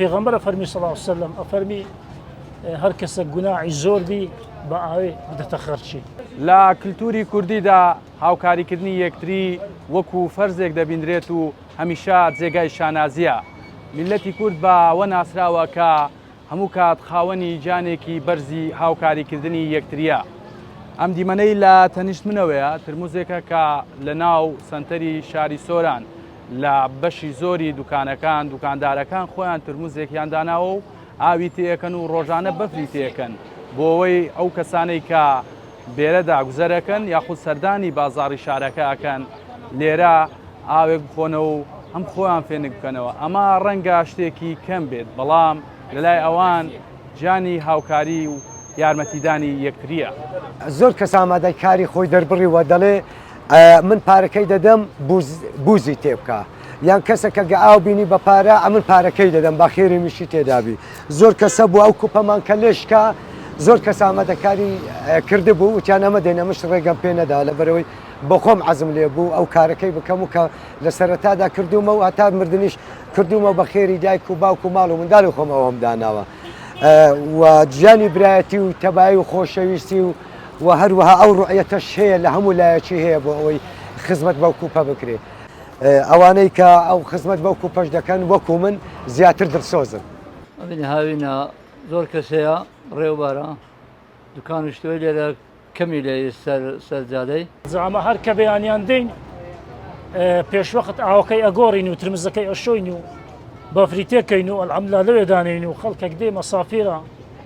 پێغەمبەر ئەفەرمی صلی اللە علیە وسلم ئەفەرمی هەر کەسە گوناحی زۆر بی بە ئاوێ بدەتە خەرچی. لە کلتوری کوردیدا هاوکاریکردنی یەکتری وەکو فەرزێک دەبیندرێت و هەمیشە جێگای شانازیە. میللەتی کورد بە وە ناسراوە کە هەموو کات خاوەنی جانێکی بەرزی هاوکاریکردنی یەکتریە. ئەم دیمەنەی لە تەنیشت منەوەیە ترموزێکە کە لە ناو سەنتەری شاری سۆران، لە بەشی زۆری دوکانەکان دوکاندارەکان خۆیان ترموزێکیان داناوە و ئاوی تێەکەن و ڕۆژانە بەفری تێکەن بۆەوەی ئەو کەسانەی کە بێرەدا گوزەرەکەن یاخود سەردانی بازاری شارەکە ئەکەن لێرە ئاوێک بخۆنەوە و ئەم خۆیان فێنک بکەنەوە ئەمە ڕەنگە شتێکی کەم بێت بەڵام لەلای ئەوان جانی هاوکاری و یارمەتیدانی یەکتریە. زۆر کەس ئامادەی کاری خۆی دەربڕیوە دەڵێ، ئەمن پارەکەی دەدەم بوزی تێبکە یان کەسەکە گە ئاو بینی بە پارە ئەمن پارەکەی دەدەم بە خێری میشی تێدابی زۆر کەسە بوو ئەو کوپەمان کە لێشکە زۆر کەس ئامادەکاری کرد بوو وتیان ئەمە دێنە مش ڕێگەم پێ نەدا لە بەرەوەی بە خۆم عزم لێ بوو ئەو کارەکەی بکەم و کە لە سەرەتادا کردومە و هەتا مردنیش کردومە بە خێری دایک و باوک و ماڵ و منداڵی خۆم ئەوم داناوە و گیانی برایەتی و تەبایی و خۆشەویستی و وە هەروەها ئەو ڕوئیەتەش هەیە لە هەموو لایەکی هەیە بۆ ئەوەی خزمەت بەو کوپە بکرێ ئەوانەی کە ئەو خزمەت بەو کوپەش دەکەن وەکو من زیاتر دڵسۆزن. ئەمنی هاوینە زۆر کەس هەیە ڕێ و بارە دوکان و شتوەی لێرە کەمی لێ سەر سەر جادەی. زعما هەر کە بەیانیان دێین پێشوەخت ئاوەکەی ئەگۆڕین و ترمزەکەی ئەشۆین و بەفری تێکەین و ئەلحەمدللە لەوێ دانێین و خەڵکەک دێ مەسافیرە،